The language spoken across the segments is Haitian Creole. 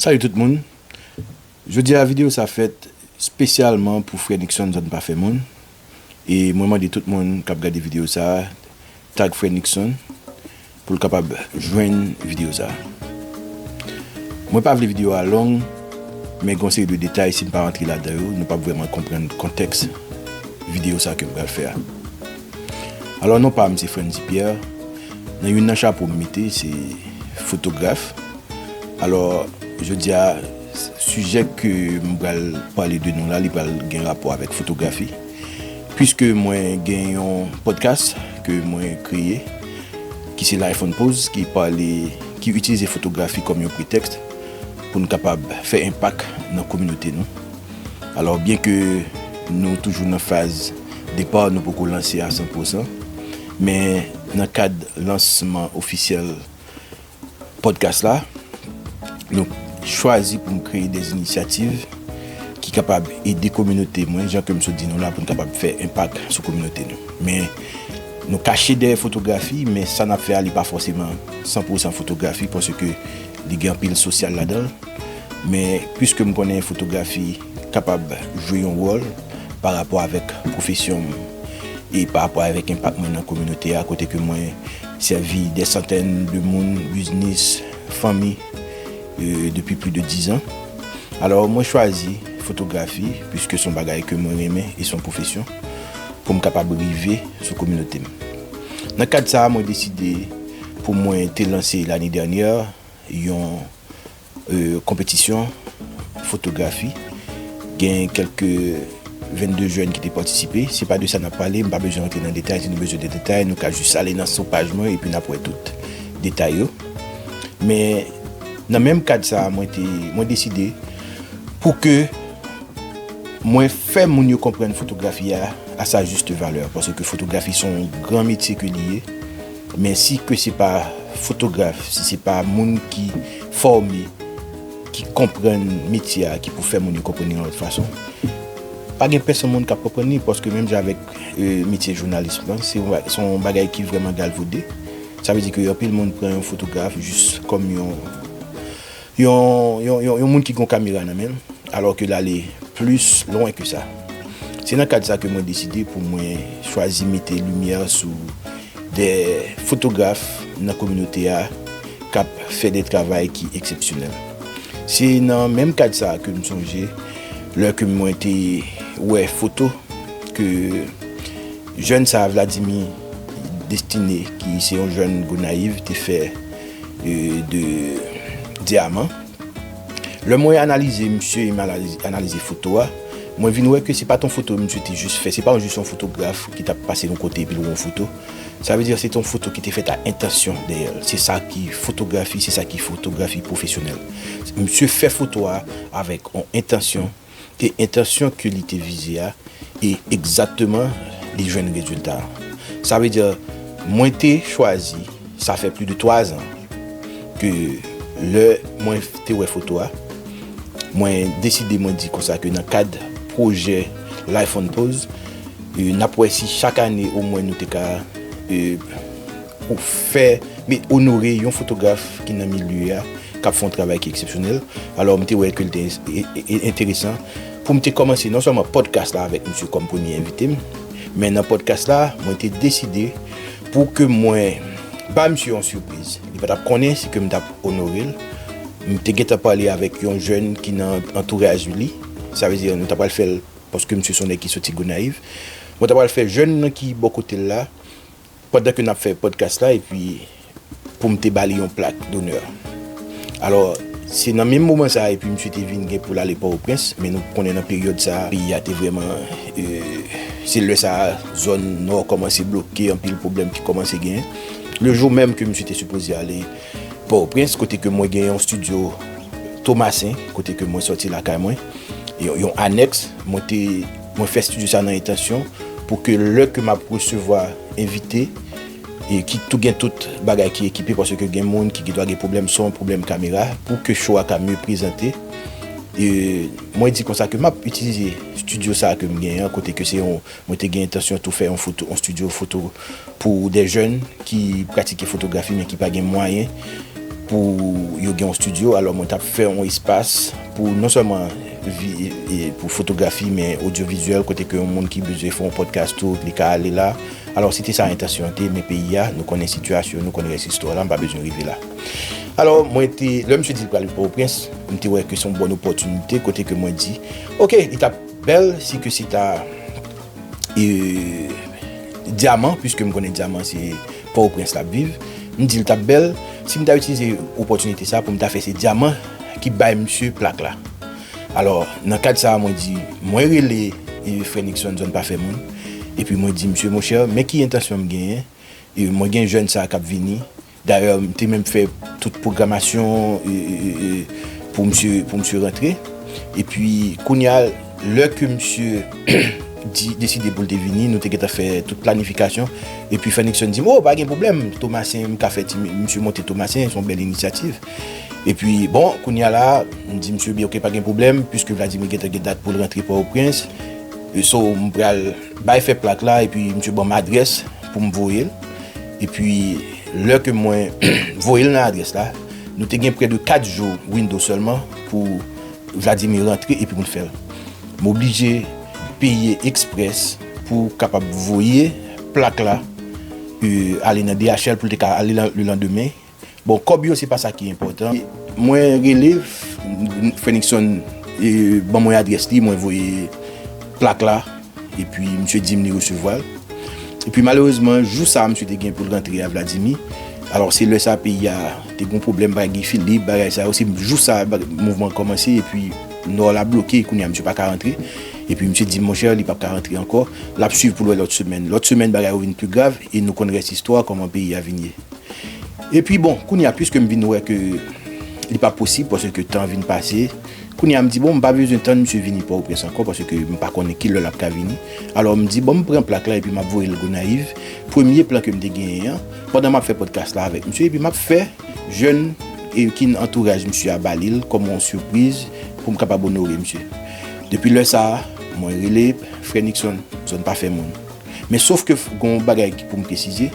Salut tout moun Jodi a video sa fèt spesyalman pou frè Nickson zòn pa fè moun e mwen mande tout moun kap gade video sa tag frè Nickson poul kapab jwenn video sa mwen pa vle video a long men gon seri de detay sim pa rantre ladan yo nou pap vrèman konprann kontèks video sa kem pral fè a alò non pam se Frantzy Pierre nan youn nan chapo m mete se fotograf. Alò, jodi a, sijè ke m pral pale de nou la, li pral gen rapò avèk fotografi. Piske mwen gen yon podcast ke mwen kreye, ki se Life on Pose, ki pale, ki itilize fotografi kòm yon pretèks pou n kapab fè enpak nan kominote nou. Alò, byen ke nou toujou nan faz depa, nou poko lanse a san pwosan, men nan kad lansman ofisyèl podcast la, nou chwazi pou nou kreye des initiatives ki kapab ede kominote mwen, jan ke m sot di nou la pou nou kapab fè enpak sou kominote nou. Men, nou kache dèyè fotografi, men sa n ap fè a li pa fòseman 100 pou 100 fotografi, paske li gen anpil sosyal ladan l. Men, pwiske m konnen fotografi kapab jwe yon wòl pa rapò avèk pwofesyon m e pa rapò avèk enpak mwen nan kominote a kote ke mwen Sèvi dè santèn de moun, biznis, fanmi depi pli de dizan. Alò mwen chwazi fotografi piske son bagay ke mwen renmen e son pwofesyon pou m kapab rive sou kominote m. Nan kad sa mwen deside pou mwen te lanse lane dènyè yon. Konpetisyon fotografi, gen kelke 22 jèn ki te patisipe, se pa de sa nap pale, m pa bezwen rantre nan detay, si nou bezwen de detay nou ka jis ale nan sou paj mwen epi nap wè tout detay yo. Men nan menm kad sa mwen te, mwen deside pou ke mwen fè moun yo konprann fotografi a a sa juste valeur, paske fotografi son gran metye ke li ye. Men si ke se pa fotograf, si se pa moun ki fòme, ki konprann metye a, ki pou fè moun yo konprann li yon lòt fason, pa gen pèsonn moun k ap konprann li, paske menm jan avèk metye jounalism lan, se yon bagay ki vrèman galvode, sa vle di ke anpil moun pran yon fotograf jis kòm yon. Yon moun ki gen yon kamera nan men l, alò ke l ale plis lwen ke sa. Se nan kad sa ke mwen deside pou mwen chwazi mete limyè sou de fotograf nan kominote a k ap fè de travay ki eksepsyonèl. Se nan menm kad sa ke m sonje lè ke mwen te wè foto ke jèn sa Vladimir Destiné ki se yon jèn Gonayiv te fè. de diaman lè mwen analize misye e mal analize foto a mwen vin wè ke se pa ton foto misye te jis fè se pa jis yon fotograf ki tap pase yon kote epi l wè yon foto sa vle di se ton foto ki te fèt a entansyon dèyèl se sa ki fotografi se sa ki fotografi pwofesyonèl misye fè foto a avèk yon entansyon ke entansyon ke li te vize a e egzakteman li jwenn rezilta an. Sa vle di mwen te chwazi, sa fè pli de 3 zan ke lè mwen te wè foto a, mwen deside mwen di konsa ke nan kad pwojè Life on Pose, n ap wè si chak ane omwen nou te ka. Pou fè, me onore yon fotograf ki nan milye a, k ap fè yon travay ki eksepsyonèl. Alò, m te wè ke li te enteresan pou m te kòmanse non sèlman podcast la avèk misye kòm premye envite m, men nan podcast la, mwen te deside pou ke mwen ba misye yon sipriz. Li pa t ap konnen si ke m t ap onore l. M te gentan pale avèk yon jèn ki nan antouraj li. Sa vle di, nou ta pral fè l, paske misye se yon nèg ki soti Gonayiv. Mwen ta pral fè jèn nan ki bò kote l la, Pandan ke nap fè podcast la epi poum te bali yon plak d'honneur. Alò se nan menm moman sa epi misye te vin gen poul ale Port-au-Prince men nou konnen nan peryòd sa peyi a te vrèman se lè sa zòn nò kòmanse bloke anpil pwoblèm ki kòmanse genyen. Le jou menm ke misye te sipoze ale Port-au-Prince kote ke mwen gen yon studio Thomassin kote ke mwen sòti lakay mwen yon anèks mwen te Mwen fè studio sa nan entansyon pou ke lè ke map resevwa envite e ki tou gen tout bagay ki ekipe paske ke gen moun ki gendwa gen pwoblèm son, pwoblèm kamera pou ke show a ka mye prezante. E mwen di konsa ke map itilize studio sa ke m gen an kote ke se yon mwen te gen entansyon tou fè yon foto yon studio foto Pou de jèn ki pratike fotografi men ki pa gen mwayen pou yo gen yon studio, alò mwen tap fè yon espas pou non sèlman pou fotografi men odyovizyèl kote ke yon moun ki bezwen fè yon podcast tou li ka ale la. Alò se te sa entansyon an te men peyi a nou konnen sitiyasyon, nou konnen rès istwa la m pa bezwen rive la. Alò mwen te, lè misye di li pral Pòtoprens, m te wè ke se yon bòn opòtinite kote ke mwen di ok li tap bèl si ke se ta. Dyaman, pwiske m konnen Dyaman se Pòtoprens l ap viv, m di l t ap bèl si m ta itilize opòtinite sa pou m ta fè se Dyaman ki bay msye plak la. Alò, nan kad sa a mwen di, mwen rele frè Nixon zòn pa fè moun, epi mwen di msye monchè men ki entansyon m genyen, mwen gen jèn sa a k ap vini, Dayè m te menm fè tout pwogramasyon pou msye pou msye rantre. Epi kounya lè ke msye di deside pou l te vini nou te gentan fè tout planifikasyon. Epi Fenixson di m o pa gen pwoblèm Tomasen m ka fè ti msye monte Tomasen s on bèl inisyativ. Epi bon kounya la m di msye byen ok pa gen pwoblèm piske Vladimir gentan gen dat pou l rantre Pòtoprens. So m pral. Bay fè plak la epi misye banm adrès poum voyel epi lè ke mwen voyel nan adrès la nou te gen prè de 4 jou window sèlman pou Vladimir rantre epi poun fèl m oblije peye express pou kapab voye plak la ale nan DHL poul te ka ale le landemen. Bon kòb yo se pa sa ki enpòtan. Mwen rele Fenixson e ban mwen adrès li mwen voye plak la epi misye dim li resevwa l epi malerezman jou sa misye te gen pou l rantre a Vladimi alò se lè sa peyi a te gon pwoblèm pa Guy Philippe bagay sa yo se jou sa mouvman an kòmanse epi nò la bloke kounye a misye paka rantre epi misye dim monchè li pap ka rantre ankò lap swiv pou l wè lòt semèn lòt semèn bagay yo vin pi grav e nou konn rès istwa kòman peyi a vin ye. Epi bon, kounye a pwiske m vin wè ke li pa posib paske tan vin pase, kounye a m di bon m pa bezwen tann misye vini Pòtoprens ankò paske m pa konnen ki lè l ap ka vini. Alò m di bon m pran plak la epi m ap voye l Gonayiv, premye plan ke m te genyen an, pandan m ap fè pòdkas la avèk misye epi m ap fè jèn ki nan antouraj misye a ba li l kòm yon sipriz pou m kapab onore misye. Depi lè sa a, mwen rele frè Nixon, Nixon pa fè moun. Men sof ke gen yon bagay ki pou m presize,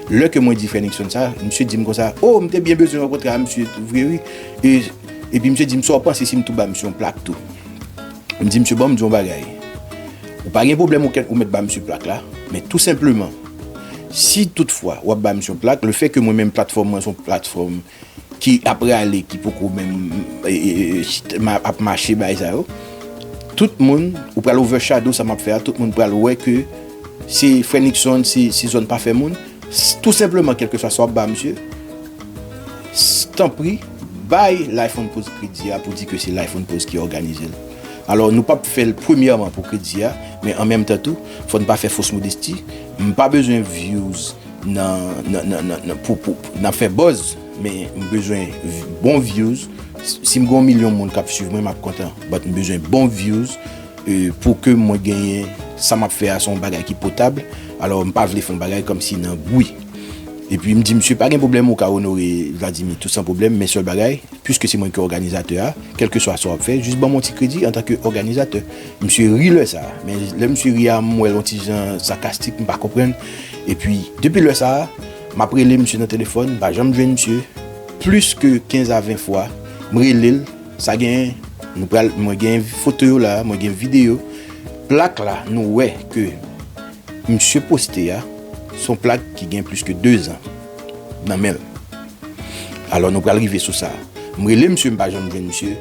lè ke mwen di frè Nixon sa, misye di m konsa, oh m te byen bezwen rankontre a misye tou vre wi, epi misye di m sa w panse si m tou ba misye yon plak tou? M di misye bon m di w yon bagay, ou pa gen pwoblèm ou mèt ba misye plak la, men tou senpleman, si tout fwa w ap ba misye yon plak, le fè ke mwen menm platfòm mwen se yon platfòm, ki ap rale ki poko menm ap mache bay sa yo tout moun ou pral over shadow sa map fè a tout moun pral wè ke se frè Nixon se zòn pa fè moun tout senpleman kelke swa sa wap ba misye tanpri bay life on pose kredi a pou di ke se life on pose ki òganize l alò nou pap fèl premyèman pou kredi a men an menm tan tou fòn pa fè fos modesti m pa bezwen vyouz. nan pou pou nan fè buzz men m bezwen bon views si m gen yon milyon moun kap swiv mwen map kontan but m bezwen bon views pou ke mwen genyen sa map fè a se yon bagay ki potab alò m pa vle fè yon bagay kòm si nan bwi epi m di misye pa gen pwoblèm ou ka onore Vladimir tout san pwoblèm men sèl bagay pwiske se mwen ki òganizatè a kèlkeswa sa wap fè jis ban m yon ti kredi antanke òganizatè misye ri lè sa men lè misye ri a m wè l yon ti jan sakastik m pa konprann. Epi, depi lè sa a, m ap rele misye nan telefòn, m pa janm jwenn misye. Plis ke 15 a 20 fwa, m rele l, sa gen, nou pral, mwen gen foto yo la a, mwen gen videyo. Plak la, nou wè ke misye poste a, se yon plak ki gen plis ke 2 zan nan men l. Alò, nou pral rive sou sa. M rele misye, m pa janm jwenn misye.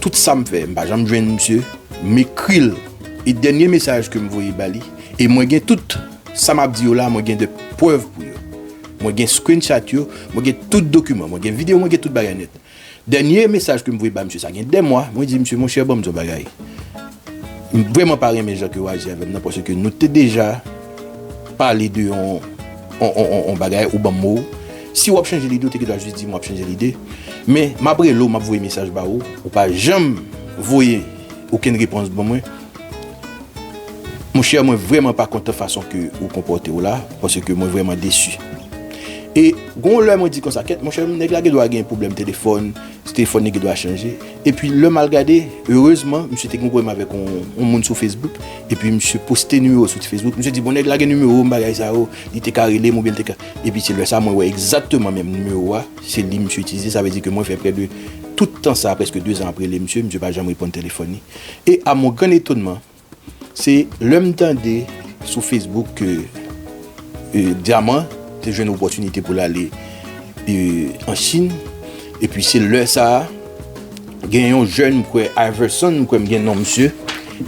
Tout sa m fè, m pa janm jwenn misye. M ekri l. E dènye mesaj ke m voye ba li, e mwen gen tout. Sa map di yo la mwen gen de prèv pou yo. Mwen gen screenshot yo, mwen gen tout dokiman, mwen gen video mwen gen tout bagay nèt. Dènye mesaj kem voye ba misye sa gen 2 mwa, mwen di misye monchè banm di yon bagay. M vrèman pa renmen jan ke ou aji avèm nan paske nou te deja pale de yon yon bagay ou banm mo ou. Si wap chanje lide ou te gen dwa jis dim wap chanje lide. Men map rele ou map voye mesaj ba ou, ou pa janm voye okenn repons ban mwen. Mon cher mwen vreman pa kontan fason ke ou konpòte w la, pase ke mwen vreman desu. E gon lè mwen di konsa kèt mon cher nèg la gen dwa gen pwoblèm telefòn, si telefòn li gen dwa chanje. E pi lè mal gade, erezman misye te gen pwoblèm avèk yon moun sou Facebook, e pi misye poste nimewo sou ti Facebook, misye di bon nèg la gen nimewo m bagay sa yo, li te ka rele m ou byen li te ka, e pi se lè sa mwen wè egzakteman menm nimewo a se li misye itilize, sa vle di ke mwen fè prè de tout tan sa, prèske 2 zan ap rele misye, misye pa janm reponn telefòn li. E a mon gran etonman, se lè m tande sou Facebook ke Dyaman te jwenn opòtinite pou l ale an Chin, epi se lè sa a, gen yon jèn m kwè Iverson, m kwè m gen non misye,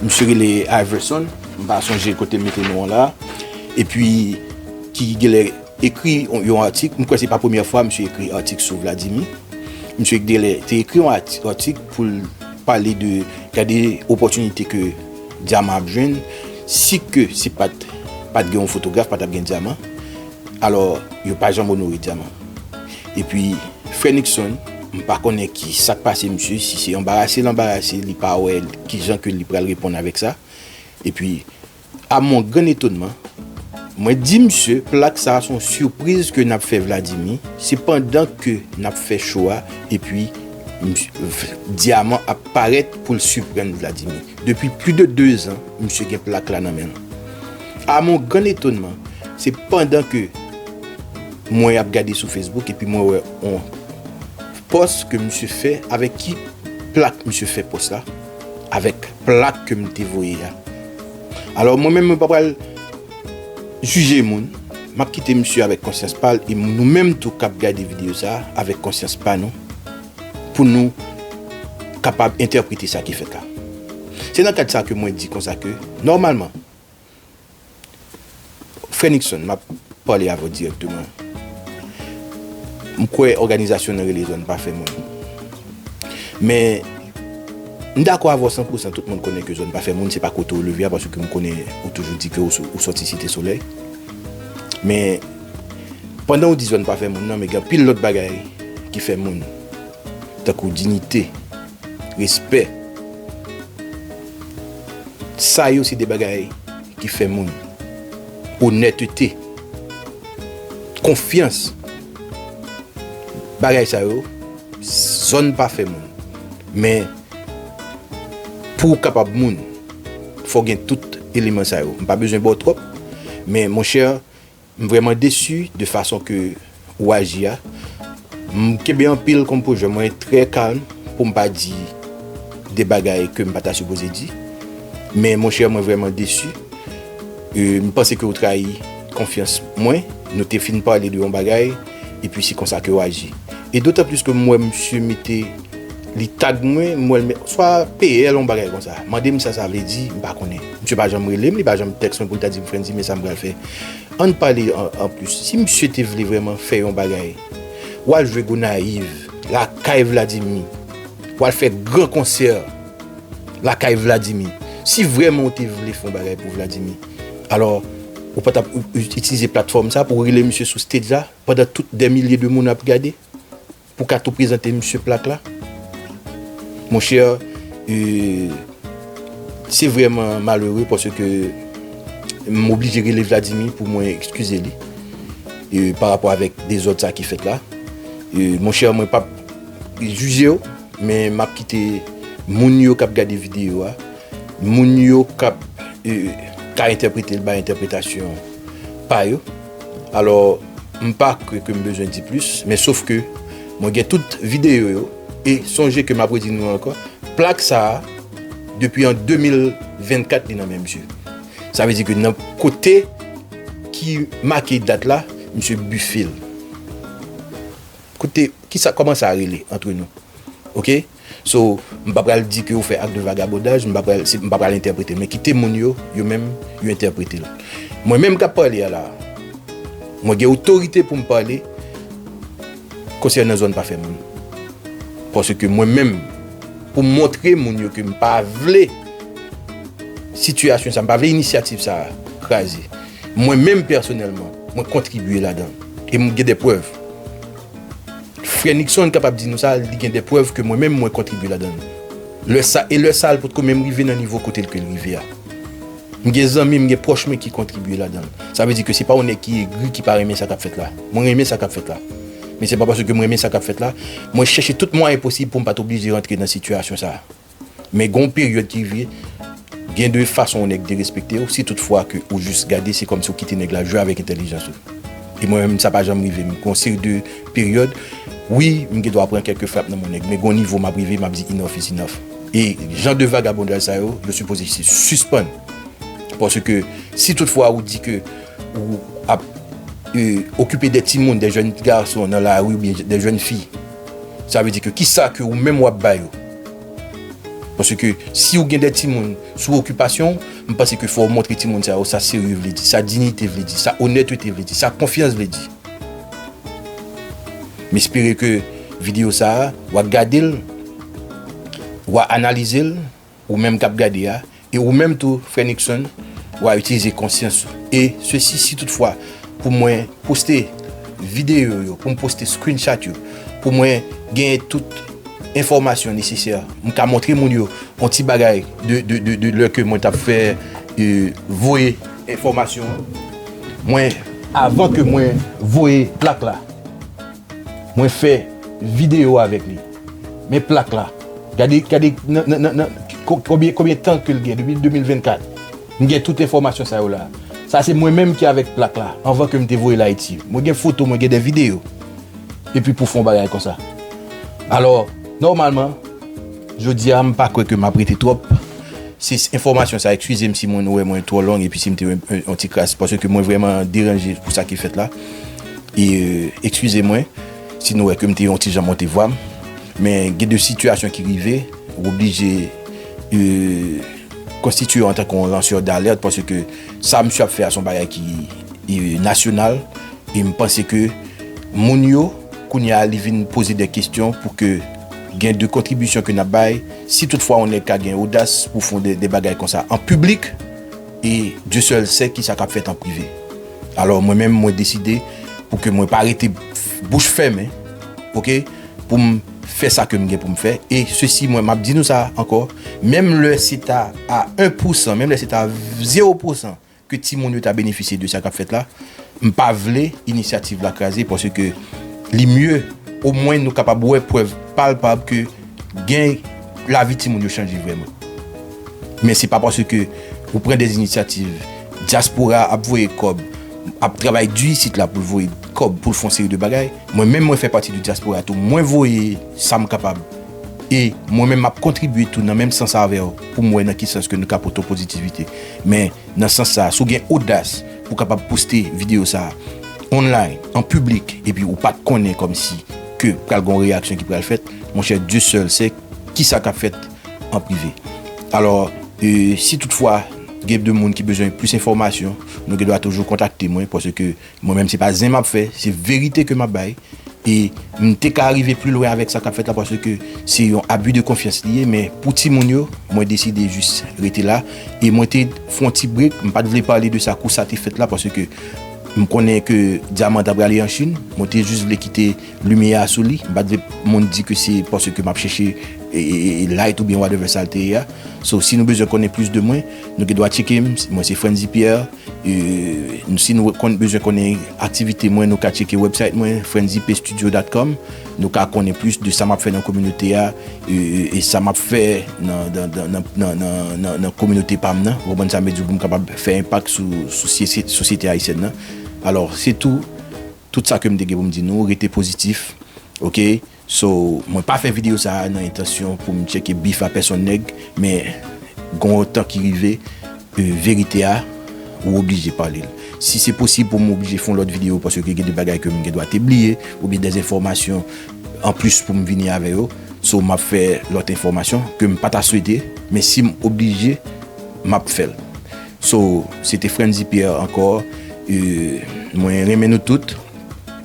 misye rele Iverson, m pa sonje kote m mete non an la a, epi ki gen lè ekri yon atik, m kwè se pa premyè fwa misye ekri atik sou Vladimir, misye gen lè te ekri yon atik pou l. Pale de gade opòtinite ke dyaman ap jwenn, si ke se pat pat gen yon fotograf pa tap gen dyaman, alò yo pa janm onore dyaman. E pi frè Nixon, m pa konnen ki sak pase misye, si se anbarase l anbarase, li pa wè ki jan ke li pral reponn avèk sa. E pi A mon grand etonman, mwen di misye plak sa a son surprise ke nap fè Vladimi, se pandan ke nap fè show a epi Diamant ap parèt pou l surprann Vladimi. Depi plus de 2 ans misye gen plak la nan men l. A mon grand etonman, se pandan ke mwen ap gade sou Facebook epi mwen wè on post ke misye fè, avèk ki plak misye fè post la? avèk plak ke m te voye a. Alò mwen menm mwen pa pral jije moun, m ap kite misye avèk konsyans pa l e nou menm tou k ap gade videyo sa avèk konsyans pa nou pou nou kapab entèprete sa ki fèt la. Se nan kad sa ke mwen di konsa ke nòmalman, Frè Nixon, m ap pale avè w dirèkteman. M kwè òganizasyon nan rele zòn pa fè moun. Men, m dakò avè w san pou san tout moun konnen ke zòn pa fè moun, se pa kote w leve a, paske m konnen ou toujou di ke ou sòti Site Solèy. Men, pandan ou di zòn pa fè moun nan, men gen anpil lòt bagay ki fè moun, tankou dinite. Respè. Sa yo se de bagay ki fè moun. Onètete. Konfyans. Bagay sa yo, zòn pa fè moun. Men, pou ou kapab moun, fò gen tout eleman sa yo. M pa bezwen ba w twòp, men monchè, M vreman desu de fason ke ou aji a. M kenbe anpil konpojè mwen trè kalm poum pa di de bagay kem pa ta sipoze di. Men monchè mwen vreman desu. M panse ke ou trayi konfyans mwen. Nou te fin pale de yon bagay. E pi se konsa ke ou aji. E dotan plis ke m wè misye mete li tag mwen, m wè l mete swa PL yon bagay konsa. Mande m sa sa vle di, m pa konnen. Misye pa janm rele m, li pa janm tèks mwen pou l ta di m Frantzy men sa m pral fè. An n pale an plis. Si misye te vle vreman fè yon bagay, w al jwe Gonayiv, lakay Vladimir. W al fè gran konsè lakay Vladimir. Si vreman ou te vle fè yon bagay pou Vladimir. Alò, ou pa t ap itilize platfòm sa pou rele misye sou stage la pandan tout dè milye de moun ap gade pou w ka tou prezante misye plak la? Mon cher, se vrèman malere paske m oblije rele Vladimir pou mwen ekskize li pa rapò avèk dezòd sa ki fèt la. Mon cher, mwen pa p jije w, men m ap kite moun yo k ap gade videyo a. Moun yo kap ka entèprete l bay entèpretasyon pa yo. Alò, m pa kwè ke m bezwen di plis, men sof ke mwen gen tout videyo yo, e sonje ke m ap redi nou ankò, plak sa a, depi an 2024 li nan men misye. Sa vle di ke nan kote ki make dat la, misye bife l. Kote, kisa, kòman sa rele antre nou? Ok? So, m pa pral di ke ou fè acte de vagabondage, m pa pral, m pa pral entèprete, men kite moun yo, yo menm, yo entèprete l. Mwen menm k ap pale a la a, mwen gen otorite pou m pale konsènan zòn pa fè moun. Paske mwen menm, pou m montre moun yo ke m pa vle sitiyasyon sa a, m pa vle inisyativ sa a kraze, mwen menm pèsonèlman, mwen kontribye ladan l e m gen de prèv. Frè Nixon kapab di nou sa, li gen de prèv ke mwen menm mwen kontribye ladan l. Lè sa, e lè sa l potko menm rive nan nivo kote l ke l rive a. M gen zanmi, m gen pwòch mwen ki kontribye ladan l. Sa vle di ke se pa yon nèg ki egri, ki pa renmen sa kap fèt la. Mwen renmen sa kap fèt la. Men se pa paske ke m renmen sa kap fèt la, mwen chèche tout mwayen posib pou m pat oblije rantre nan sitiyasyon sa. Men gon peryòd ki rive gen de fason yon nèg derespekte w si tout fwa ke ou jis gade se kòmsi ou kite nèg la jwe avèk entèlijans ou. E mwen menm sa pa janm rive m. Gon seri de peryòd wi m gen dwa pran kèlke frap nan men yon nèg men gon nivo m ap rive m ap di enough is enough. E jan de vagabondaj sa yo, yo sipoze se sispann. Paske si tout fwa ou di ke ou ap okipe de timoun, de jèn gason nan lari oubyen de jèn fi sa vle di ke kisa ke ou menm w ap ba yo? Paske si ou gen de timoun sou okipasyon ou, m panse ke fò ou montre timoun sa yo sa serye vle di, sa dignite vle di, sa onètete vle di, sa konfyans vle di. M espere ke videyo sa a, w a gade l, w a analize l, ou menm k ap gade a. E ou menm tou, frè Nixon, wa itilize konsyans ou. E sesi si tout fwa pou mwen poste videyo yo, pou m poste screenshot yo, pou mwen genyen tout enfòmasyon nesesè, m ka montre moun yo yon ti bagay de lè ke mwen t ap fè voye enfòmasyon an. Mwen, avan ke mwen voye plak la, mwen fè videyo avèk li. Men plak la. Gade, gade nan, nan, nan, konbyen, konbyen tan ke l gen, depi 2024. M gen tout enfòmasyon sa yo la. Sa se mwen menm ki avèk plak la, anvan ke m te voye l Ayiti. Mwen gen foto, mwen gen de videyo. Epi pou fè yon bagay konsa. Alò, nòmalman, jodi a, m pa kwè ke m ap rete twòp. Se enfòmasyon sa, ekskize m si mwen wè mwen twò long, epi si m te yon ti kras, paske mwen vrèman deranje pou sa ki fèt la. E, ekskize mwen. Si nou wè ke m te yon ti jan monte vwa m, men gen de sitiyasyon ki rive, ou oblije konstitiye w antan ke yon lansè d'alèt, paske sa misye ap fè a se yon bagay ki nasyonal, e m panse ke moun yo, kounye a li vin poze de kestyon pou ke gen de kontribisyon ke n ap bay, si tout fwa yon nèg ka gen odas pou fon de bagay konsa an piblik, e Dye sèl sè kisa k ap fèt an prive. Alò mwen menm mwen deside pou ke mwen pa rete bouch fèmen ok pou m fè sa ke m gen pou m fè e sesi mwen map di nou sa ankò menm lè se ta a 1 pou 100 menm lè se ta 0 pou 100 ke ti moun yo ta benefisye de sa kap fèt la m pa vle inisyativ la kraze paske li mye o mwen nou kapab wè prèv palpab ke Gen lavi timoun yo chanje vrèman. Men se pa paske ou pran de inisyativ, dyaspora ap voye kòb, ap travay di isit la pou l voye kòb pou l fè yon seri de bagay. Mwen menm mwen fè pati de dyaspora tou, mwen voye sa m kapab e mwen menm m ap kontribye tou nan menm sans avè w pou m wè nan ki sans ke nou ka pote yon pozitivite. Men. Nan sans sa, si w gen odas pou w kapab poste videyo sa a online, an piblik, epi ou pa t konnen kòmsi ke pral gen yon reyaksyon ki pral fèt, monchè Dieu seul sait kisa k ap fèt an prive. Alò, si tout fwa gen de moun ki bezwen plis enfòmasyon, nou gen dwa toujou kontakte mwen paske. Mwen menm se pa zen map fè, se verite ke map bay, e m te ka rive pli lwen avèk sa kap fèt la paske se yon abus de confiance li ye, men pou timoun yo mwen deside jis rete la, e mwen te fon ti break, m pat vle pale de sa kou sa te fèt la paske m konnen ke Diamant ta prale an Chine, mwen te jis vle kite limyè a sou li, m pat vle moun di ke se paske map chèche light oubyen whatever sa l te ye a, so si nou bezwen konnen plis de mwen, nou gen dwa tcheke m, mwen se Frantzy Pierre. Si nou bezwen konnen aktivite mwen, nou ka tcheke website mwen, frenzipstudio.com. Nou ka konnen plis de sa m ap fè nan kominote a e sa m ap fè nan kominote pa m nan. Ou konprann sa m vle di w? Pou m kapab fè enpak sou sosyete ayisyèn nan. Alò, se tou, tout sa ke m te gen pou m di nou. Rete pozitif, oke? So mwen pa fè video sa nan entansyon poum tcheke bif a pèsonn nèg men gon yon tan ki rive verite a ou oblije palel. Si se posib poum oblije fon lòt video paske gen de bagay kem gen dwa te bliye oubyen dè enfòmasyon anplis poum vini avè yo so map fè lòt enfòmasyon kem pata swete men sim oblije map fèl. So se te Frantzy Pierre ankò mwen renmen nou tout